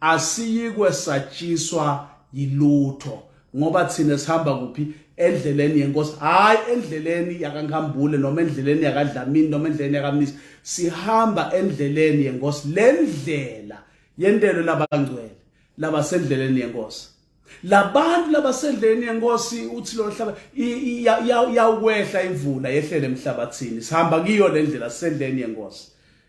asiyikwe satshiswa yilutho ngoba thina sihamba kuphi endleleni yenkosi hayi endleleni yakaNkambule noma endleleni yakaDlamini noma endleleni yakaMnisi sihamba endleleni yenkosi lendlela yentelo labangcwele labasendleleni yenkosi labantu labasendleni yenkosi uthi lo hlaba yawukwehla imvula yehlele emhlabathini sihamba kiyo le ndlela sisendleni yenkosi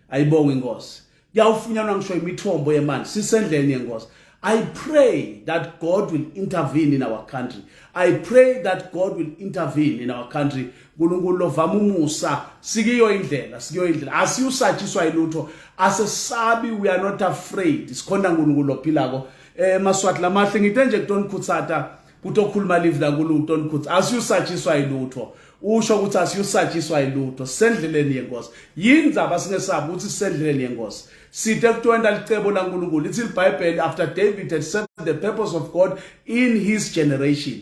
ayibonga inkosi kuyawufunyanwa ngisho imithombo yemanzi sisendleni yenkosi I pray that God will intervene in our country. I pray that God will intervene in our country. uNkulunkulu lovama umusa sikiyo indlela sikiyo indlela asiyusatshiswa ilutho asesabi we are not afraid sikhonda uNkulunkulu lophilako eh maswati lamahle ngite nje kuton khutsata kutokhuluma live la kulu uton khutsa asiyusatshiswa yilutho usho ukuthi asiyusatshiswa yilutho sendleleni yenkosi yini ndaba singesabi ukuthi sendleleni yenkosi sithe kutwenda licebo laNkulunkulu lithi iBhayibheli after David had served the purpose of God in his generation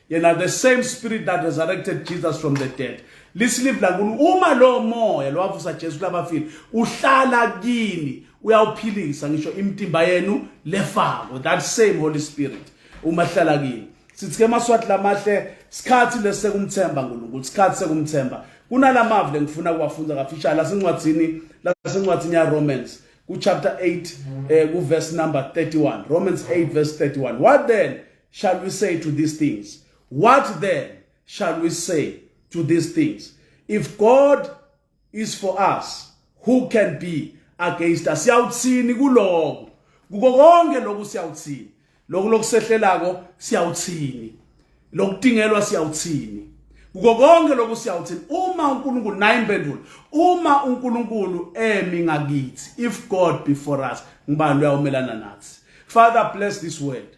yena the same spirit that resurrected jesus from the dead lisilive lakuni uma lowo moya lowavusa jesu kulabafile uhlala kini uyawuphilisa ngisho imtimba yenu lefako that same holy spirit uma hlala kini sithi ke maswathi lamahle sikhathi lesekumthemba uNkulunkulu sikhathi sekumthemba kunalamavi lengifuna kuwafunda kafishane lasencwadini lasencwadini ya Romans ku chapter 8 eh, ku verse number 31 Romans 8 verse 31 what then shall we say to these things? What then shall we say to these things? If God is for us, who can be against us? Siyawuthini kuloko? Kuko konke lokhu siyawuthini? Lokhu lokusehlelako siyawuthini? Lokutingelwa siyawuthini? Kuko konke lokhu siyawuthini? Uma uNkulunkulu naye impendulo, uma uNkulunkulu emi ngakithi, if God be for us, ngubani uyamelana nathi? Father bless this word.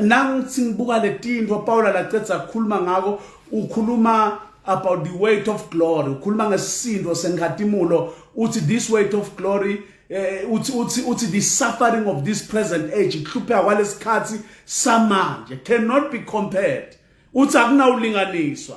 nangithi ngibuka letinto Paula lacedza kukhuluma ngako ukhuluma about the weight of glory ukhuluma ngesisindo senkhatimulo uthi this weight of glory eh, uthi uthi uthi the suffering of this present age ihlupheka kwalesikhathi samanje cannot be compared uthi akunawulinganiswa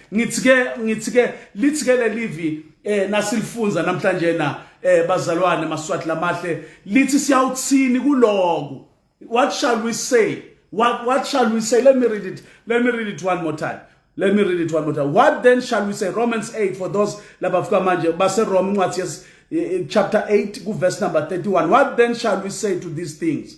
ngithi ke ngithi ke lithi ke lelivi eh nasilifunza namhlanje na eh bazalwane maswati lamahle lithi siyawuthini kuloku what shall we say what what shall we say let me read it let me read it one more time let me read it one more time what then shall we say romans 8 for those labafika manje base rome incwadi yes eh, eh, chapter 8 ku verse number 31 what then shall we say to these things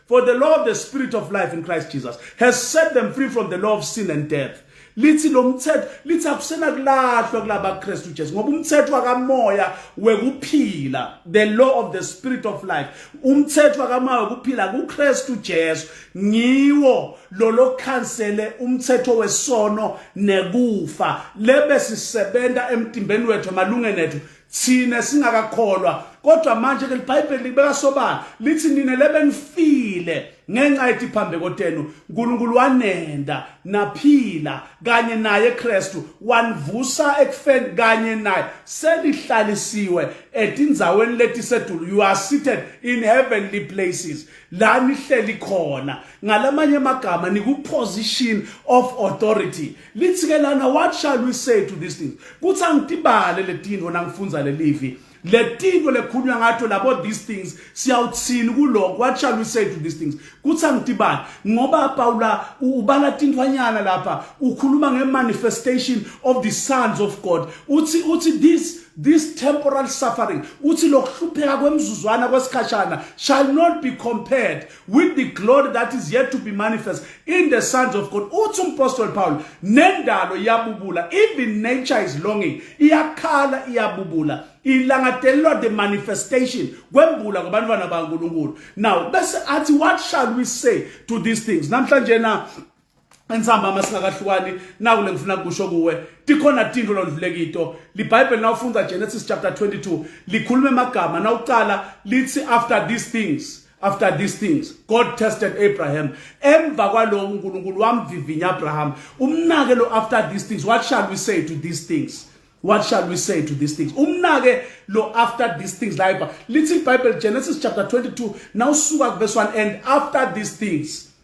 For the law of the spirit of life in Christ Jesus has set them free from the law of sin and death. lithi lo mthetho lithi akusena kulahlwa kulaba Kristu Jesu ngoba umthetho wakamoya wekuphila the law of the spirit of life umthetho wakamoya wekuphila kuKristu Jesu ngiwo lolo cancele umthetho wesono nekufa lebe sisebenza emtimbeni wethu malungeni ethu thina singakakholwa kodwa manje ke libhayibheli libeka sobala lithi nina lebenifile ngenxa yethi phambe kotenu uNkulunkulu wanenda naphila kanye naye Kristu wanvusa ekufeni kanye naye selihlalisiwe etinzaweni letisedulu you are seated in heavenly places la nihleli khona ngalamanye amagama niku position of authority lithi ke lana what shall we say to these things kuthi angitibale letinto nangifundza lelivi letinto lekhunywa ngato labo these things siyawuthini kuloko what shall we say to these things kuthi angitibale ngoba Paula ubala tintwanyana lapha ukhuluma ngemanifestation of the sons of God uthi uthi this this temporal suffering uthi lokuhlupheka kwemzuzwana kwesikhashana shall not be compared with the glory that is yet to be manifest in the sons of God uthi umpostoli Paul nendalo iyabubula even nature is longing iyakhala iyabubula ilangadelelwa the manifestation kwembula kwabantwana baNkulunkulu now bese athi what shall we say to these things namhlanje na Ensamba uma singakahlukani naku lengifuna kusho kuwe tikhona tinto londlulekito liBhayibheli nawufunda Genesis chapter 22 likhuluma emagama nawuqala lithi after these things after these things God tested Abraham emva kwaloko uNkulunkulu wamvivinya Abraham umnake lo after these things what shall we say to these things what shall we say to these things umnake lo after these things laiba lithi iBhayibheli Genesis chapter 22 nawusuka kuverse 1 and after these things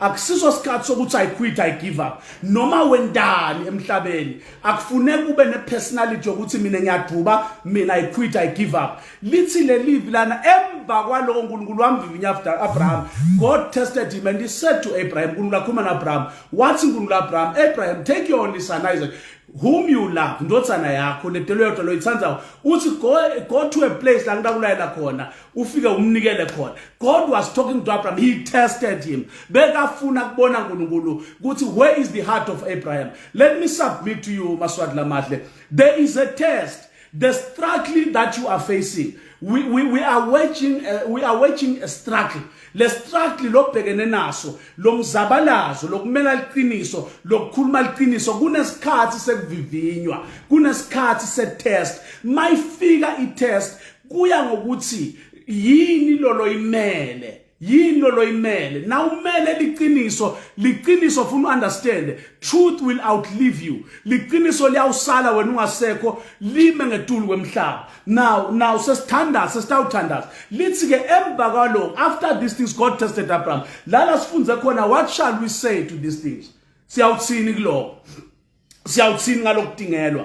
akusiso sikhathi sokuthi i quit i give up noma wendani emhlabeni akufuneki ube ne personality yokuthi mina ngiyaduba mina i quit i give up lithi lelivi lana emva kwaloko uNkulunkulu wamvivinya after Abraham God tested him and he said to Abraham uNkulunkulu akhuluma na Abraham wathi uNkulunkulu Abraham Abraham take your only son Isaac whom you love ndotsana yakho ledelo yodwa loyithandayo uthi go go to a place la ngitakulayela khona ufike umnikele khona god was talking to abraham he tested him bekafuna kubona nkulunkulu ukuthi where is the heart of abraham let me submit to you maswati lamahle there is a test the struggling that you are facing we, we, we are waging uh, we are waging a struggle le struggle lobhekene naso lomzabalazo lokumela liqiniso lokukhuluma liqiniso kunesikhathi sekuvivinywa kunesikhathi se test mayifika i test kuya ngokuthi yini lolo imele yini lolo imele na umele liqiniso liqiniso funa understand truth will outlive you liqiniso liyawusala wena ungasekho lime ngetulu kwemhlaba now now sesithandaza sesitawuthandaza lithi ke emva kwaloko after these things god tested abraham lala sifunze khona what shall we say to these things siyawuthini kuloko siyawuthini ngalokudingelwa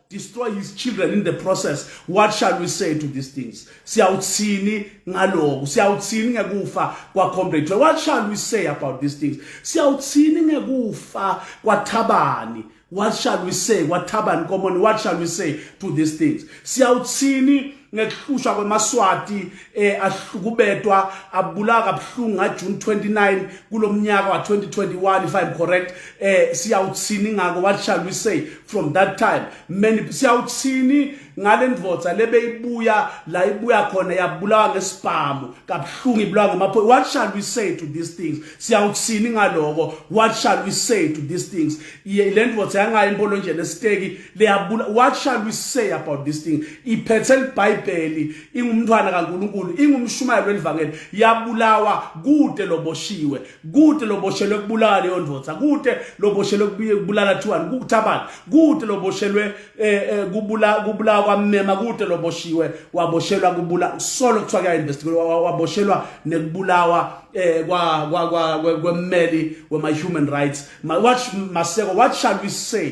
destroy his children in the process what shall we say to these things siyawuthini ngaloku siyawuthini ngekufa kwa comrade what shall we say about these things siyawuthini ngekufa kwathabani what shall we say kwathabani komoni what shall we say to these things siyawuthini ngekuhlushwa kwemaswati eh ahlukubedwa abulawa kabuhlungu nga June 29 kulomnyaka wa 2021 if i'm correct eh siyawuthini ngako what shall we say from that time many siyawuthini ngalendvodza lebeyibuya la ibuya khona yabulawa ngesibhamu kabuhlungu ibulawa ngamaphoyisa what shall we say to these things siyawuthini ngaloko what shall we say to these things lendvodza yangayi impolonjeni esiteki liyabula what shall we say about this thing iphethe libhayibheli ingumntwana kaNkuluNkulu ingumshumayeli welivangeli yabulawa kude loboshiwe kude loboshelwe kubulala leyo ndoda kude loboshelwe kubulala thiwani kukuthabani kude loboshelwe eh, eh, kubula kubulawa kwamema kude loboshiwe waboshelwa kubula solo kuthiwa kuya investigate waboshelwa nekubulawa eh kwa kwa kwemmeli wema human rights what maseko what shall we say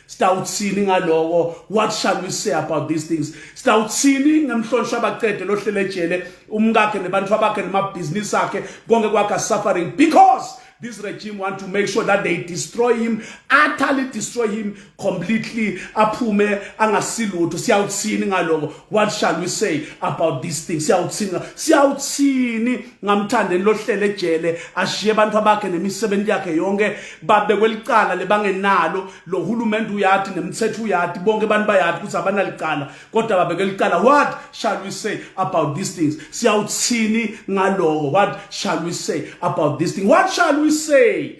Sitawuthini ngaloko? What shall we say about these things? Sitawuthini ngemhlonishwa abaqede lohlele ejele umkakhe nebantu abakhe nemabhizinisi akhe konke kwakhe suffering because this regime want to make sure that they destroy him utterly destroy him completely aphume angasilutho siyawuthini ngaloko what shall we say about this thing siyawuthini siyawuthini ngamthandeni lohlele ejele ashiye abantu abakhe nemisebenzi yakhe yonke babe kwelicala lebangenalo lo hulumende uyati nemthetho uyati bonke abantu bayati ukuthi abanalicala kodwa babe kwelicala what shall we say about these things siyawuthini ngaloko what shall we say about this thing what shall we say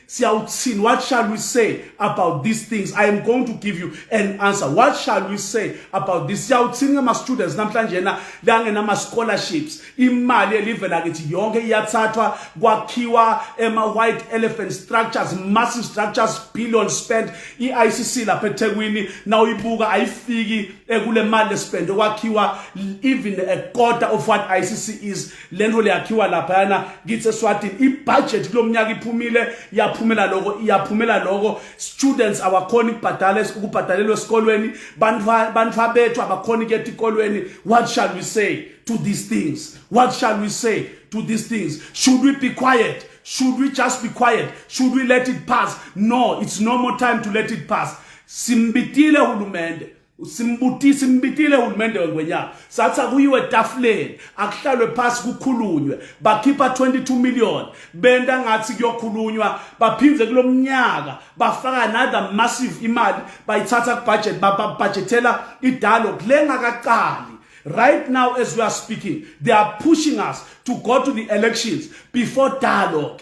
siyawuthini what shall we say about these things i am going to give you an answer what shall we say about this siyawuthini ngama-students namhlanje na langenama-scholarships imali elive lakithi yonke iyathathwa kwakhiwa ema-white elephant structures massive structures billion spend i-icc lapha ethekwini na uyibuka ayifiki ekule mali lespende kwakhiwa even a quarter of what icc is lento liyakhiwa laphayana kithi eswatini ibudget kulo mnyaka iphumile yaphumela loko iyaphumela loko students awakhona ukubhadala ukubhadalelwa esikolweni bantwa bethu abakhona ukuyeta ikolweni what shall we say to these things what shall we say to these things should we be quiet should we just be quiet should we let it pass no it's no more time to let it pass simbitile hulumende simbutisa imbitile uhulumende wengwenyama sathi akuyiwe etafuleni akuhlalwe phasi kukhulunywe bakhipha 22 million benta ngathi kuyokhulunywa baphindze kulo mnyaka bafaka another massive imali bayithatha kubudget babhajethela idalo kulengakaqali right now as we are speaking they are pushing us to go to the elections before dialogue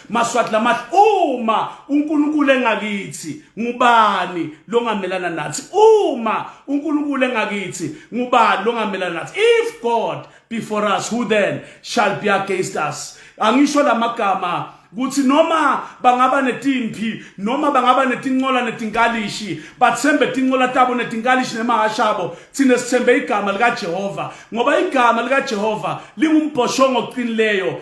Maswati lamahle uma uNkulunkulu engakithi ngubani longamelana nathi uma uNkulunkulu engakithi ngubani longamelana nathi if God be for us who then shall be against us angisho lamagama kuthi noma bangaba netimpi noma bangaba netincola netinkalishi bathembe tincola tabo netinkalishi nemahasha abo thina sithembe igama likaJehova ngoba igama likaJehova lingumbhoshongo oqinileyo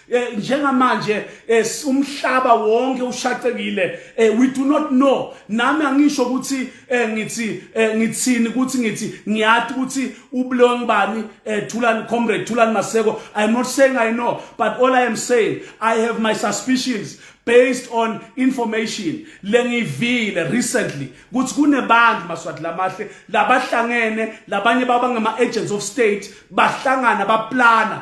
Eh, njengamanje eh, umhlaba wonke ushaqekile eh, we do not know nami angisho ukuthi ngithi ngithini ukuthi ngithi ngiyathi ukuthi ubulong bani thulani comrade thulani maseko i am not saying i know but all i am saying i have my suspicions based on information lengivile recently ukuthi kunebantu maswati lamahle labahlangene labanye babangama agents of state bahlangana baplana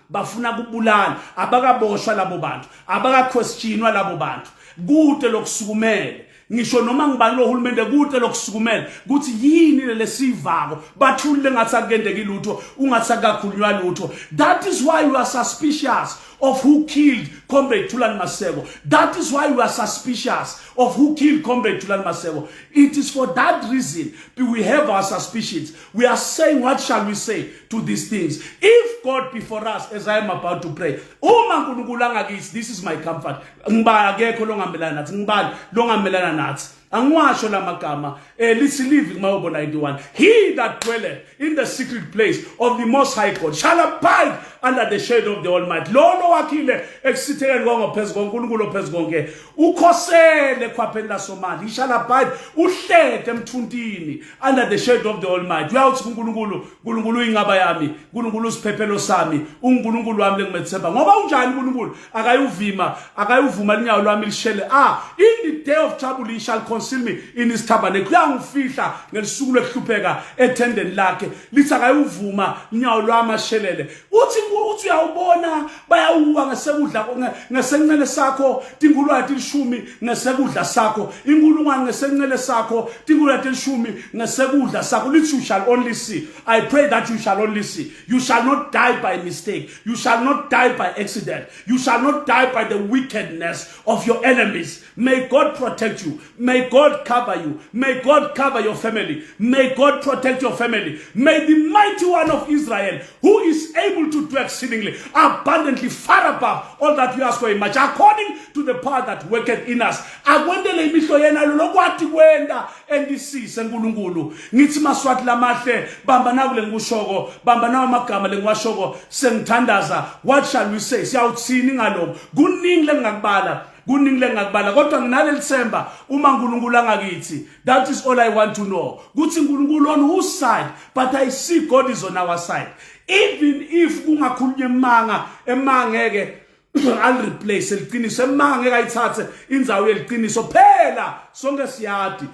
bafuna kubulala abakaboshwa labo bantu abakakhwestshinwa labo bantu kude lokusukumele ngisho noma ngibani lo hulumende kude lokusukumela ukuthi yini lesivako bathulile ngathi akuyendeki lutho ungathi akakhulunywa lutho that is why you are suspicious of who killed comrade Thulani Maseko that is why you are suspicious of who killed comrade Thulani Maseko it is for that reason we have our suspicions We are saying, what shall we say to these things? If God be for us, as I am about to pray, uma nkulunkulu angakithi, this is my comfort. Ngibani akekho longamelana nathi, ngibani longamelana nathi. angiwasho la magama eh lithi live kumayobo 91 he that dwelleth in the secret place of the most high god shall abide under the shade of the almighty lolo wakhile ekusithekeni kwangophezu konkulunkulu ophezu konke ukhosele khwapheni lasomali he shall abide uhlete emthuntini under the shade of the almighty uyawuthi kuNkulunkulu uNkulunkulu uyinqaba yami uNkulunkulu usiphephelo sami uNkulunkulu wami lengimethemba ngoba unjani uNkulunkulu akayuvima akayuvuma linyawo lwami lishele ah in the day of trouble he shall conceal me in his tabernacle uyangifihla ngelisuku lwehlupheka ethendeni lakhe lithi akayuvuma linyawo lwami ashelele uthi uthi uyawubona bayawuwa ngesekudla ngesencele sakho tingulwane tilishumi ngesekudla sakho inkulungwane ngesencele sakho tingulwane tilishumi ngesekudla sakho lithi you shall only see i pray that you shall only see you shall not die by mistake you shall not die by accident you shall not die by the wickedness of your enemies May God protect you. May God cover you. May God cover your family. May God protect your family. May the mighty one of Israel, who is able to do exceedingly abundantly far above all that we ask for him, much according to the power that worketh in us. Akwendele imihlo yena lokwati kwenda endisise nkulunkulu. Ngithi maswati lamahle bamba naku lengushoko, bamba nawo amagama lengiwashoko sengithandaza. What shall we say? Siyawuthini ngaloko? Kuningi lengakubala. kuningi lengakubala kodwa nginaleli themba uma uNkulunkulu angakithi that is all i want to know kuthi uNkulunkulu on whose side but i see god is on our side even if kungakhulunywa emanga emangeke al replace liqiniso emanga ngeke ayithathe inzawo yeliqiniso phela sonke siyadi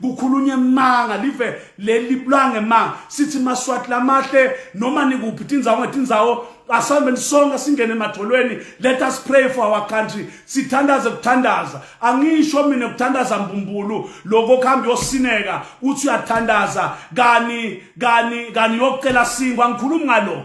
kukhulunywa emanga live leli blange ma sithi maswati lamahle noma nikuphi tindzawo ngetindzawo asambeni sonke singene emadolweni let us pray for our country sithandaze kuthandaza angisho mina kuthandaza mbumbulu lokho kuhamba yosineka uthi uyathandaza kani kani kani yocela singwa ngikhuluma ngalo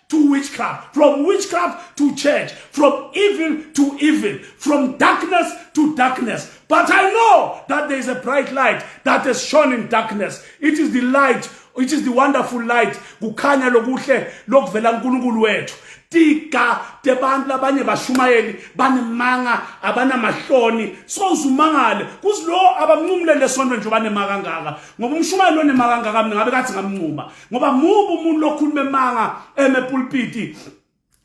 to witchcraft, from witchcraft to church, from evil to evil, from darkness to darkness. But I know that there is a bright light that has shone in darkness. It is the light, it is the wonderful light. Kukhanya lokuhle lokuvela uNkulunkulu wethu. Tika tebantu labanye bashumayeli banemanga abanamahloni sozumangale kuzilowo abamncumulele esontweni nje banemaka kangaka ngoba umshumayeli onemaka kangaka mina ngabe kathi ngamncuma ngoba mubu umuntu lokhuluma emanga emepulpiti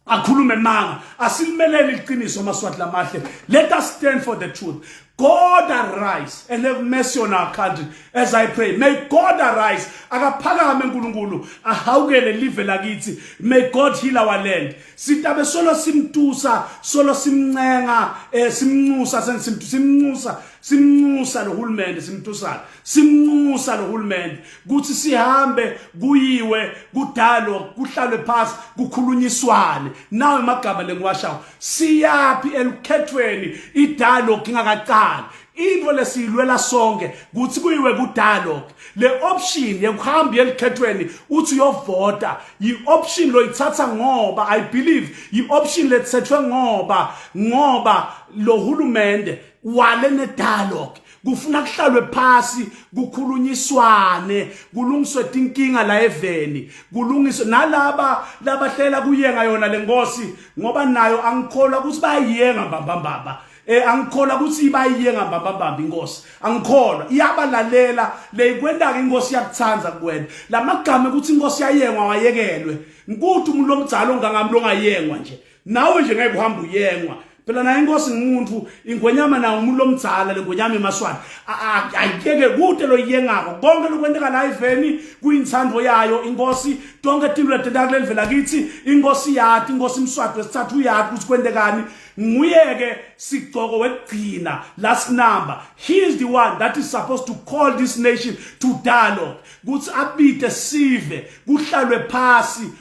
akhulume emanga asilimelele iqiniso amaswati lamahle let us stand for the truth God arise and have mercy on our country as I pray. May God arise. Akaphakame uNkulunkulu ahawukele live lakithi. May God heal our land. Sitabe solo simtusa, solo simncenga, eh simncusa sensimtu simncusa, simncusa lohulumende simtusana. Simncusa lohulumende. kuthi sihambe kuyiwe kudalwa kuhlalwe phansi kukhulunyiswane nawe magama lengiwashawo siyaphi elukhethweni idalo ngingakaqali into lesiyilwela sonke kuthi kuyiwe kudalo le option yekuhamba yelikhethweni uthi uyovota yi-option loyithatha ngoba i believe yi-option lethethwe ngoba ngoba lo hulumende wale ne-dialogue kufuna kuhlalwe phasi kukhulunyiswane kulungiswe tinkinga la eveni kulungiswe nalaba labahlela kuyenga yona lenkosi ngoba nayo angikholwa ukuthi bayiyenga mbamba mbamba eh angikholwa ukuthi ibayiye ngambambambamba inkosi angikholwa iyabalalela leyikwentaka inkosi yakuthanda kuwena lamagama ukuthi inkosi yayengwa wayekelwe ngikuthi umuntu omdala ongangamlongayengwa nje nawe nje ngeke uhambe uyengwa phela naye inkosi ngumuntu ingwenyama nawo umuntu lomdzala lengwenyama emaswati ayikeke kude loyiyengako konke lokwenteka la iveni kuyintsandvo yayo inkosi tonke tinto letenteka kuleli vela kithi inkosi yati inkosi mswati wesithathu uyati ukuthi kwentekani nguyeke sigcoko wekugcina last number he is the one that is supposed to call this nation to dialogue kuthi abide sive kuhlalwe phasi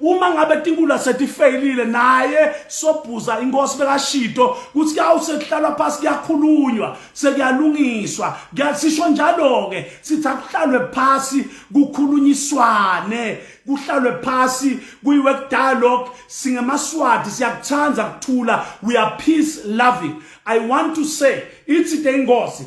uma ngabe tinkulu asetifeyilile naye sobhuza inkosi bekashido kuthi yawu sekuhlalwa phasi kuyakhulunywa sekuyalungiswa kuyasisho njalo-ke sithi akuhlalwe phasi kukhulunyiswane kuhlalwe phasi kuyiwe kudialogue singemaswati siyakuthanda kuthula we are peace loving i want to say ithi te inkosi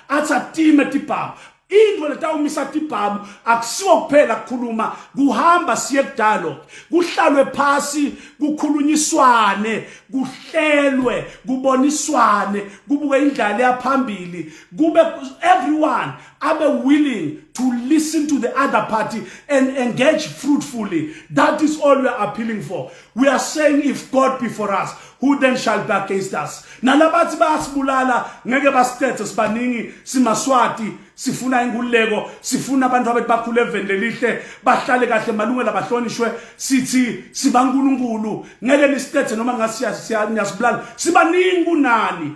athi atime tibhamu into letawumisa tibhamu akusiwo kuphela kukhuluma kuhamba siye kudialogue kuhlalwe phasi kukhulunyiswane kuhlelwe kuboniswane kubuke indlala yaphambili kube everyone abe willing to listen to the other party and engage fruitfully that is all we are appealing for we are saying if god be for us who then shall be against us nalabathi bayasibulala ngeke basicethe sibaningi simaswati sifuna inkululeko sifuna abantu abethu bakhule eveni lelihle bahlale kahle malungelo abahlonishwe sithi sibankulunkulu ngeke nisicethe noma ngasiyasibulala sibaningi kunani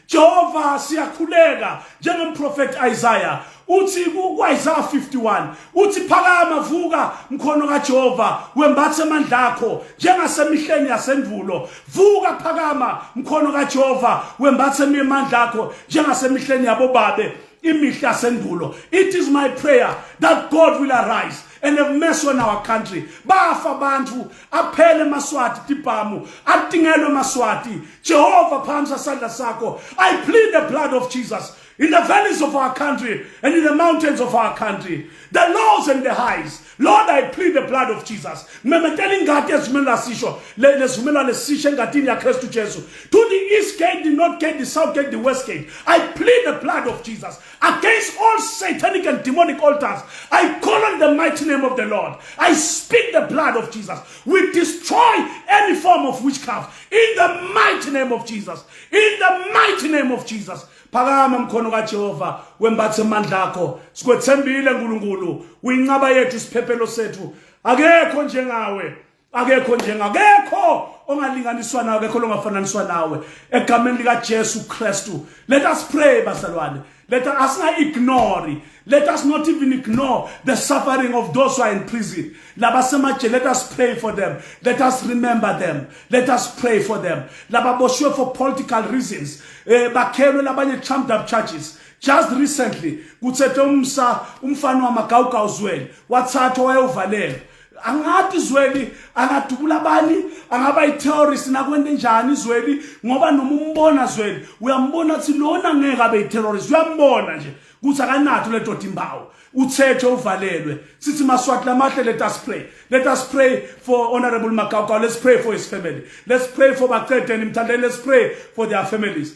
Jehova siyakhuleka njengomprofeti Isaiah uthi ku-Isaiah 51 uthi phakama vuka mkhono kaJehova wembathe amandla akho njengasemihleni yasendulo vuka phakama mkhono kaJehova wembathe amandla akho njengasemihleni yabobabe imihle yasendulo it is my prayer that God will arise and have mess on our country bafa abantu aphele maswati tipamu atingelwe maswati jehova phamsa sandla sakho i plead the blood of jesus in the valleys of our country and in the mountains of our country, the lows and the highs. Lord, I plead the blood of Jesus. Memetela ingadi ezimela sisho, lezimela lesisho engadini ya Kristu Jesu. To the east gate, the north gate, the south gate, the west gate. I plead the blood of Jesus. against all satanic and demonic altars. I call on the mighty name of the Lord. I speak the blood of Jesus. We destroy any form of witchcraft in the mighty name of Jesus. In the mighty name of Jesus. phakama mkhono kajehova wembathe amandla akho sikwethembile nkulunkulu uyinqaba yethu isiphephelo sethu akekho njengawe akekho njenga akekho ongalinganiswa nawe akekho longafananiswa nawe egameni lika Jesu Kristu let us pray basalwane let us not ignore let us not even ignore the suffering of those who are in prison laba semaje let us pray for them let us remember them let us pray for them laba boshwe for political reasons eh bakhelwe labanye trumped up charges just recently kuthethe umsa umfana wamagawugawuzwele wathathwa wayewuvalelwa angathi izweli angadubula abani angaba yiterrorist nakwente njani izweli ngoba noma umbona zweli uyambona ukuthi lona ngeke abe yiterrorist uyambona nje kuthi akanatho le doda imbawo uthethe uvalelwe sithi maswati lamahle let us pray let us pray for honorable magawugawu let's pray for his family let's pray for baqedeni mthandeni let's pray for their families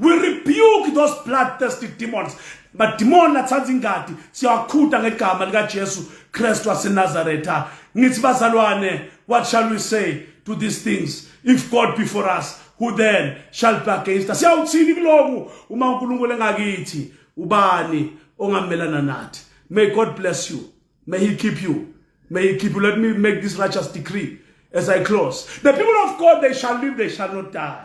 we rebuke those bloodthirsty demons madimoni lathanda ingadi siyawakhuda ngegama likaJesu Kristu waseNazaretha ngithi bazalwane what shall we say to these things if God be for us who then shall be against us siyawuthini kuloku uma uNkulunkulu engakithi ubani ongamelana nathi may God bless you may he keep you may he keep you let me make this righteous decree as I close the people of God they shall live they shall not die